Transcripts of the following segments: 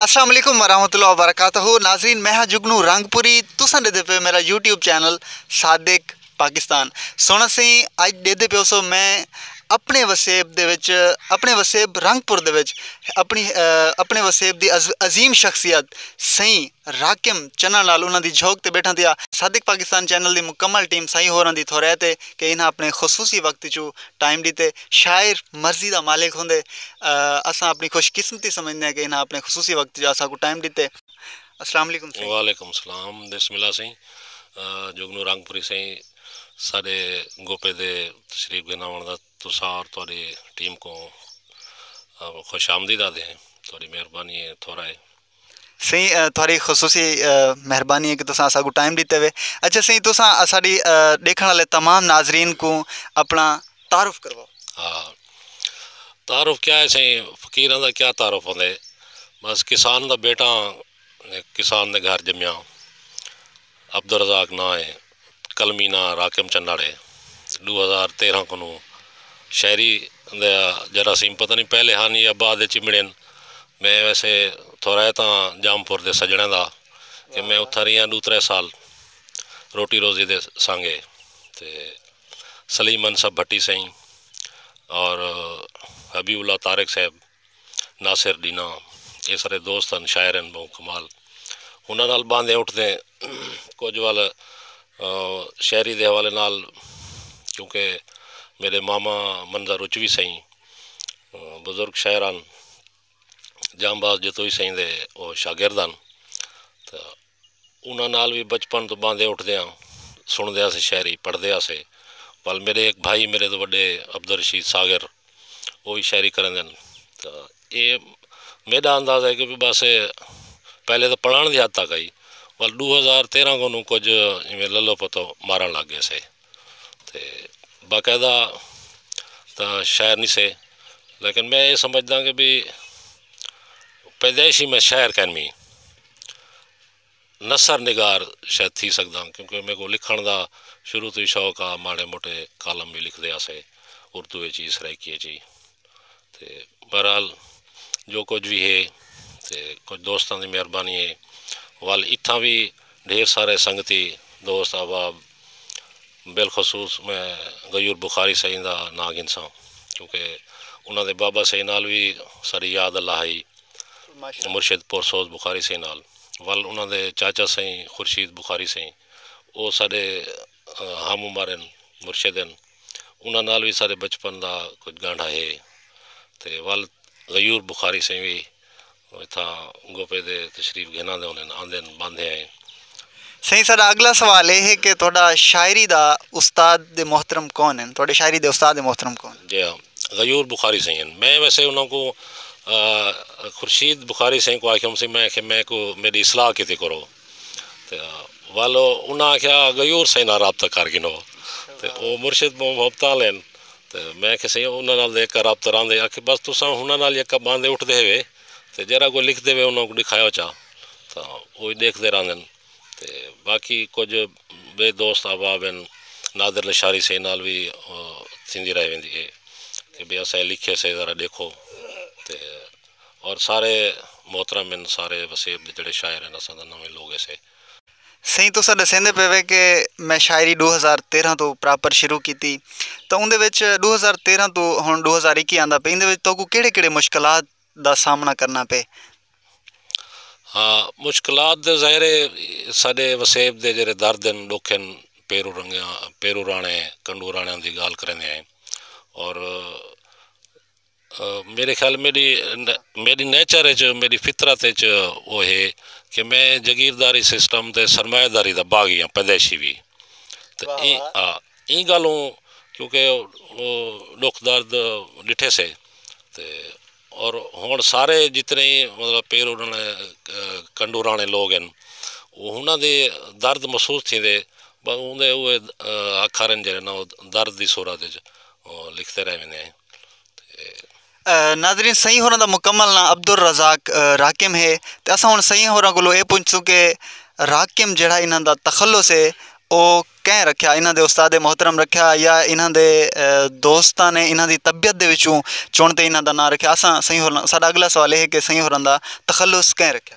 السلام علیکم ورحمۃ اللہ وبرکاتہ ناظرین میں ہاں جگنو رنگ پوری تساں ڈے دے پے میرا یوٹیوب چینل صادق پاکستان سونا سی اج دے دے پیو سو میں اپنے وسیب دے وچ اپنے وسیب رنگ پور دے وچ اپنی اپنے وسیب دی عظیم شخصیت سی راکم چنا نال انہاں دی جھوک تے بیٹھا دیا صادق پاکستان چینل دی مکمل ٹیم سائیں ہوراں دی تھورے تے کہ انہاں اپنے خصوصی وقت چو ٹائم دیتے شاعر مرضی دا مالک ہوندے اساں اپݨی خوش قسمتی سمجھدے ہیں کہ انہاں اپݨے خصوصی وقت جو اساکوں ٹائم ݙتے اسلام علیکم سائیں وعلیکم السلام بسم اللہ سائیں جگنو رنگ پوری سائیں ساڈے گوپے دے تشریف گھن آوݨ دا تساں اور تہاڈی ٹیم کوں خوش آمدید آدھے ہیں تہاڈی مہربانی ہے تھوڑا ہے سئیں تھوڑی خصوصی مہربانی ہے کہ تساں اسا کو ٹائم دیتے ہوئے اچھا سئیں تساں اساڈی دیکھن والے تمام ناظرین کو اپنا تعارف کرواؤ ہاں تعارف کیا ہے سئیں فقیراں دا کیا تعارف ہوندے بس کسان دا بیٹا ہاں کسان دے گھر جمیا ہاں عبدالرزاق ناں اے قلمی ناں راقم چنڑ اے ڈو ہزار تیرہاں کنوں شاعری دے جراثیم پتہ نی پہلے ہن یا بعد اچ امڑین میں ویسے تھورائے تاں جام پور دے سجنڑیں دا کہ میں اتھاں ریہاں ڈو ترے سال روٹی روزی دے سانگے تے سلیم انصف بھٹی سئیں اور حبیب اللہ طارق صاحب ناصر ڈینہ اے سارے دوست ہن شاعر ہن بہوں کمال انہاں نال باندھیں اٹھدیں کجھ ول شاعری دے حوالے نال کیونکہ میڈے ماما منظر اچوی سئیں بزرگ شاعر ہن جام باز جتوئی سئیں دے او شاگرد ہن تاں انہاں نال وی بچپن توں ٻاندے اٹھدیاں سݨدے ہاسے شاعری پڑھدے ہاسے ول میݙے ہک بھائی میݙے توں وݙے عبدالرشید ساغر او وی شاعری کریندن تاں اے میݙا اندازہ ہے کہ وی بس اے پہلے تاں پڑھاݨ دی حد تک ہئی ول ݙو ہزار تیرھاں کوں کجھ ایویں للو پتو مارݨ لڳ ڳیسے تے باقاعدہ تاں شاعر نی سے لیکن میں اے سمجھداں کہ بی پیدائش ہی میں شاعر کینویں نثر نگار شاید تھی سڳداں کیونکہ میکوں لکھݨ دا شروع توں ہی شوق ہا ماڑے موٹے کالم وی لکھدے ہاسے اردو اچ ہی سرائیکی اچ ہی تے بہرحال جو کچھ وی ہے تے کچھ دوستاں دی مہربانی ہے ول اتھاں وی ڈھیر سارے سنگتی دوست احباب بالخصوص میں غیور بخاری سئیں دا ناں گھنساں کیونکہ انہاں دے بابا سئیں نال وی ساڈی یاد اللہ ہئی مرشد پورسوز بخاری سئیں نال ول انہاں دے چاچا سئیں خورشید بخاری سئیں او ساڈے ہم عمر ہن مرشد ہن انہاں نال وی ساڈے بچپن دا کجھ گانڈھا ہے تے ول غیور بخاری سئیں وی او اتھاں گوپے دے تشریف گھن آندے ہونن۔ آندن باندھے آئیں۔ سئیں ساڈا اگلا سوال اے ہے کہ تہاڈا شاعری دا استاد دے محترم کون ہن؟ تہاڈے شاعری دے استاد دے محترم کون ہن؟ جی ہاں غیور بخاری سئیں ہن۔ میں ویسے انہاں کوں خورشید بخاری سئیں کوں آکھیوم سی میں آکھیا میکوں میڈی اصلاح کیتی کرو۔ ول انہاں آکھیا غیور سئیں نال رابطہ کر گھنو تے او مرشد بہوں مبتال ہن تے میں آکھیا سئیں انہاں نال تاں یکا رابطہ راہندے آکھے بس تساں انہاں نال یکا باندھے اٹھدے ہیوے تے جیرھا کوئی لکھدے وے انہاں کوں ݙکھایو چا تاں اوہی ݙیکھدے راہندن تے باقی کجھ ٻئے دوست احباب ہن نادر لشاری سئیں نال وی تھیندی رہ ویندی ہے کہ بھئی اساں اے لکھیے سے ذرا ݙیکھو تے اور سارے محترم ہن سارے وسیب دے جیڑھے شاعر ہن اساں دا نویں لوگ ایسے۔ سئیں تساں ڈسیندے پئے وے کہ میں شاعری ڈو ہزار تیرہاں توں پراپر شروع کیتی تاں اوندے وچ ڈو ہزار تیرہاں توں ہن ڈو ہزار اکی آندا پئے ایندے وچ تہاکوں کیڑھے کیڑھے مشکلات دا سامنا کرنا پئے۔ ہا مشکلات دے ظاہر ہے ساڈے وسیب دے جیڑھے درد ہن ڈکھ ہن پیرو رنگیاں پیرو راہنے کنڈو راہنیاں دی گالھ کریندے ہیں اور میݙے خیال میݙی میݙی نیچر اچ میݙی فطرت اچ او ہے کہ میں جگیرداری سسٹم تے سرمایہ داری دا باغی ہاں پیدائشی وی تے ایں آ ایں ڳالھوں کیونکہ او ݙکھ درد ݙٹھے سے تے اور ہݨ سارے جتنے مطلب پیر انہاں نے کنڈوراݨے لوگ ہن او انہاں دے درد محسوس تھیندے ٻہوں دے اوہ اکھر ہن جیڑھے نا او درد دی صورت اچ لکھتے رہ ویندے ہیں ناظرین سئیں ہوراں دا مکمل ناں عبدالرزاق راقم ہے تے اساں ہݨ سئیں ہوراں کولوں اے پچھسوں کہ راقم جیڑھا انہاں دا تخلص ہے او کئیں رکھیا انہاں دے استاد محترم رکھیا یا انہاں دے دوستاں نے انہاں دی طبیعت دے وچوں چݨ تے انہاں دا ناں رکھیا اساں سئیں ہوراں ساݙا اڳلا سوال اے ہے کہ سئیں ہوراں دا تخلص کئیں رکھیا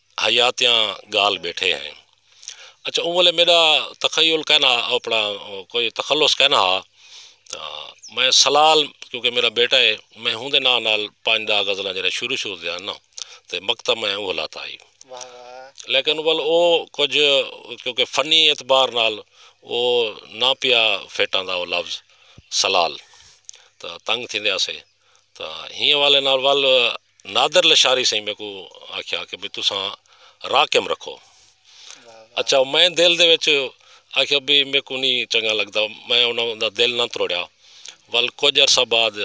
حیاتیاں گال بیٹھے ہیں۔ اچھا اوں ویلے میڈا تخیل کائنا ہا اپنا کوئی تخلص کائنا ہا تاں میں سلال کیونکہ میڈا بیٹا ہے میں ہوں دے ناں نال پنج ڈاہ غزلاں جیرھے شروع شروع دے ہن ناں تے مکتب میں اوہ لاتا ہئی لیکن ول اوہ کجھ کیونکہ فنی اعتبار نال اوہ ناں پیا فٹ آندا اوہ لفظ سلال تاں تنگ تھیندے آسے تاں ہی حوالے نال ول نادر لشاری سئیں میکوں آکھیا کہ بھئی تساں راقم رکھو اچھا میں دل دے وچ آکھیا بھئی میکوں نی چنگا لگدا میں انہاں دا دل نہ تروڑیا ول کجھ عرصہ بعد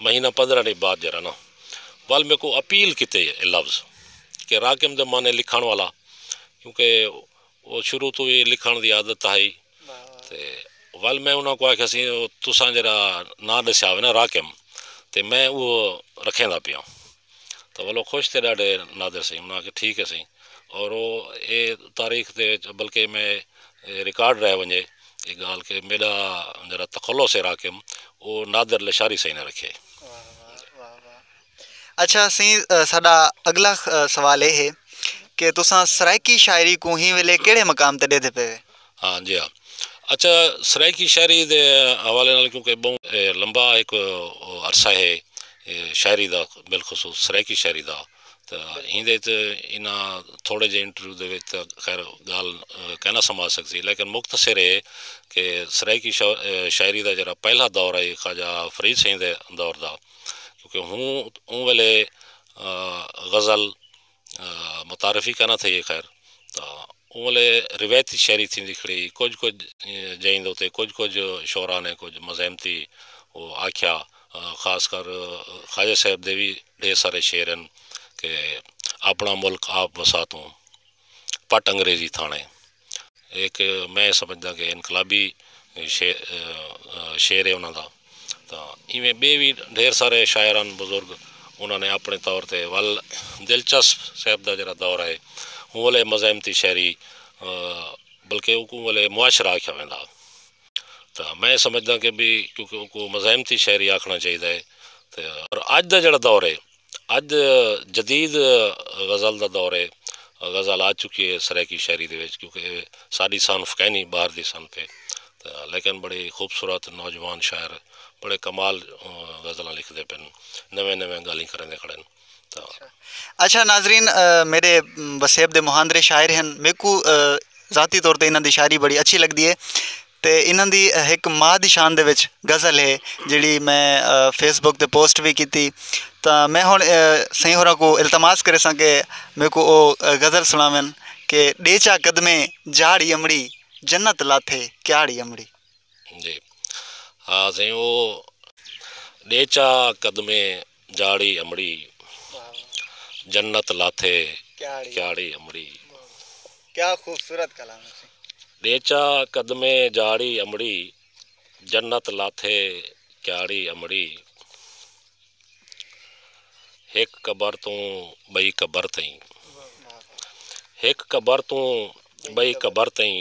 مہینہ پندرہ ݙینہہ بعد جیرھا نا ول میکوں اپیل کیتے لفظ کہ راقم دے معنی لکھݨ والا کیونکہ او شروع توں وی لکھݨ دی عادت ہئی تے ول میں انہاں کوں آکھیا سی او تساں جیرھا ناں ݙسیا ہووے نا راقم تے میں اوہو رکھیندا پیاں تاں ول او خوش تے ݙاڈھے نادر سئیں انہاں آکھیا ٹھیک ہے سئیں اور او اے تاریخ دے وچ بلکہ میں اے ریکارڈ رہ ونجے اے گالھ کہ میݙا جیرھا تخلص ہے راقم او نادر لشاری سئیں نے رکھیا ہئی۔ اچھا سئیں ساڈا اگلا سوال اے ہے کہ تساں سرائیکی شاعری کوں ہی ویلے کیڑھے مقام تے ڈیدھے پے وے ہاں جی ہاں اچھا سرائیکی شاعری دے حوالے نال کیونکہ بہوں لمبا ایک عرصہ ہے شاعری دا بالخصوص سرائیکی شاعری دا تہ ایندے وچ انہا تھوڑے جے انٹرویو دے وچ تہ خیر گال کینا سما سکسی لیکن مختصر ہے کہ سرائیکی شاعری دا جیرا پہلا دور ہے خواجہ فرید سئیں دے دور دا کیونکہ ہوں اوں ویلے غزل متعارف ہی کائنا تھئی خیر تاں اوں ویلے روایتی شاعری تھیندی کھڑی ہئی کجھ کجھ جئیں دے اتے کجھ کجھ شعرا نے کجھ مزاحمتی او آکھیا خاص کر خواجہ صاحب دے وی ڈھیر سارے شعر ہن کہ آپنڑاں ملک آپ وسا توں پٹ انگریزی تھاݨے ہک میں سمجھداں کہ انقلابی شعر ہے انہاں دا تاں ایویں ٻئے وی ڈھیر سارے شاعران بزرگ انہاں نے آپݨے طور تے ول دلچسپ صاحب دا جیڑھا دور ہے اوں ویلے مزاحمتی شاعری بلکہ اوں ویلے معاشرہ آکھیا ویندا ہا تاں میں سمجھداں کہ بھی کیونکہ اوں کوں مزاحمتی شاعری آکھݨا چاہیدا ہے تاں اڄ دا جیڑھا دور ہے اڄ جدید غزل دا دور ہے غزل آ چکی ہے سرائیکی شاعری دے وچ کیونکہ اے ساݙی صنف کائنی ٻاہر دی صنف ہے لیکن بڑی خوبصورت نوجوان شاعر بڑے کمال غزلاں لکھدے پن نویں نویں ڳالھیں کریندے کھڑن تاں اچھا ناظرین میرے وسیب دے مہاندرے شاعر ہن میکو ذاتی طور تے انہاں دی شاعری بڑی اچھی لگدی ہے تے انہاں دی ہک ماء دی شان دے وچ غزل ہے جیڑھی میں فیس بک تے پوسٹ وی کیتی تاں میں ہن سئیں ہوراں کوں التماس کریساں کہ میکوں او غزل سناون کہ ڈے چا قدمیں جاڑی امڑی جنت لاتھے کیاڑی امڑی۔ جی ہاں سئیں او ڈے چا قدمیں جاڑی امڑی جنت لاتھے کیاڑی امڑی۔ کیا خوبصورت کلام ہے سی۔ ڈیچا قدمے جاڑی امڑی جنت لاتھے کیاڑی امڑی ہک قبر توں بئی قبر تئیں ہک قبر توں بئی قبر تئیں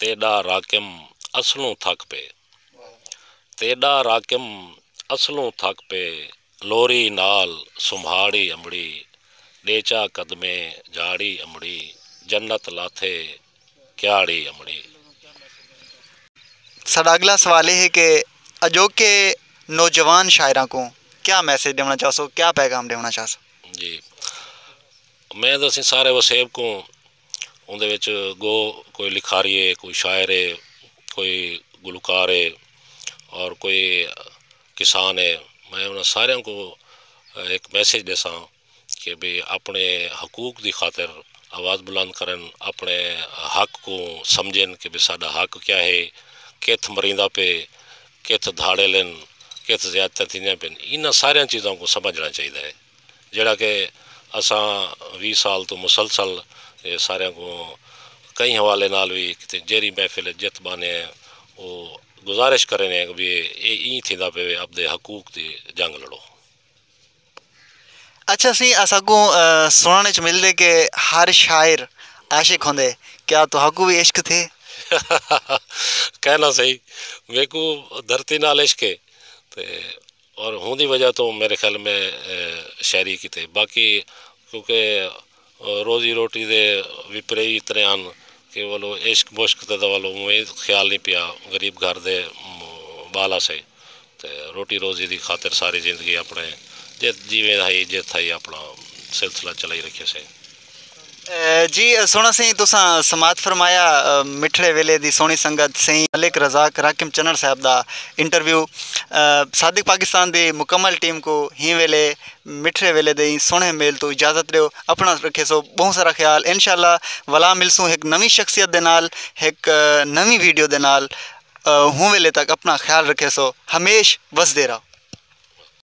تیݙا راقم اصلوں تھک پے تیݙا راقم اصلوں تھک پے لوری نال سمھاڑی امڑی ݙیچا قدمیں جاڑی امڑی جنت لاتھے کیاڑی امڑی۔ ساڈا اگلا سوال اے ہے کہ اجوکے نوجوان شاعراں کوں کیا میسج ݙیوݨا چاہسو کیا پیغام ݙیوݨا چاہسو؟ جی میں تاں اسیں سارے وسیب کوں اوندے وچ گو کوئی لکھاری ہے کوئی شاعر ہے کوئی گلوکار ہے اور کوئی کسان ہے میں انہاں ساریاں کوں ہک میسج ݙیساں کہ بھئی اپݨے حقوق دی خاطر آواز بلند کرن اپݨے حق کوں سمجھن کہ بھئی ساݙا حق کیا ہے کتھ مریندا پئے کتھ دھاڑیل ہن کتھ زیادتیاں تھیندیاں پئین انہاں ساریاں چیزاں کوں سمجھݨا چاہیدا ہے۔ جیڑھا کہ اساں ویہہ سال توں مسلسل اے ساریاں کوں کہیں حوالے نال وی کیتے جیرھی محفل اچ جت بانے ہیں او گزارش کرینے ہیں کہ بھئی اے ایں تھیندا پیوے اپدے حقوق دی جنگ لڑو۔ اچھا سئیں اساکوں سنڑن اچ ملدے کہ ہر شاعر عاشق ہوندے کیا تہاکوں وی عشق تھے؟ کہنا سئیں میکوں دھرتی نال عشق اے تے اور ہوندی وجہ توں میرے خیال میں شاعری کیتے باقی کیونکہ روزی روٹی دے وی پریوی اتنے ہن کہ ولو عشق مشق تے ولو اونویں خیال نی پیا غریب گھر دے بال ہسے تے روٹی روزی دی خاطر ساری زندگی اپنے جیت جیویں ہئی جیت ہئی اپنا سلسلہ چلائی رکھیسے جی سونا سائیں تساں سماعت فرمایا مٹھڑے ویلے دی سونی سنگت سائیں ملک رزاق راکم چنڑ صاحب دا انٹرویو صادق پاکستان دی مکمل ٹیم کو ہی ویلے مٹھڑے ویلے دے سونے میل تو اجازت دیو اپنا رکھے سو بہت سارا خیال انشاءاللہ ولا ملسوں ایک نوی شخصیت دے نال ایک نوی ویڈیو دے نال ہوں ویلے تک اپنا خیال رکھے سو ہمیش وسدے رہو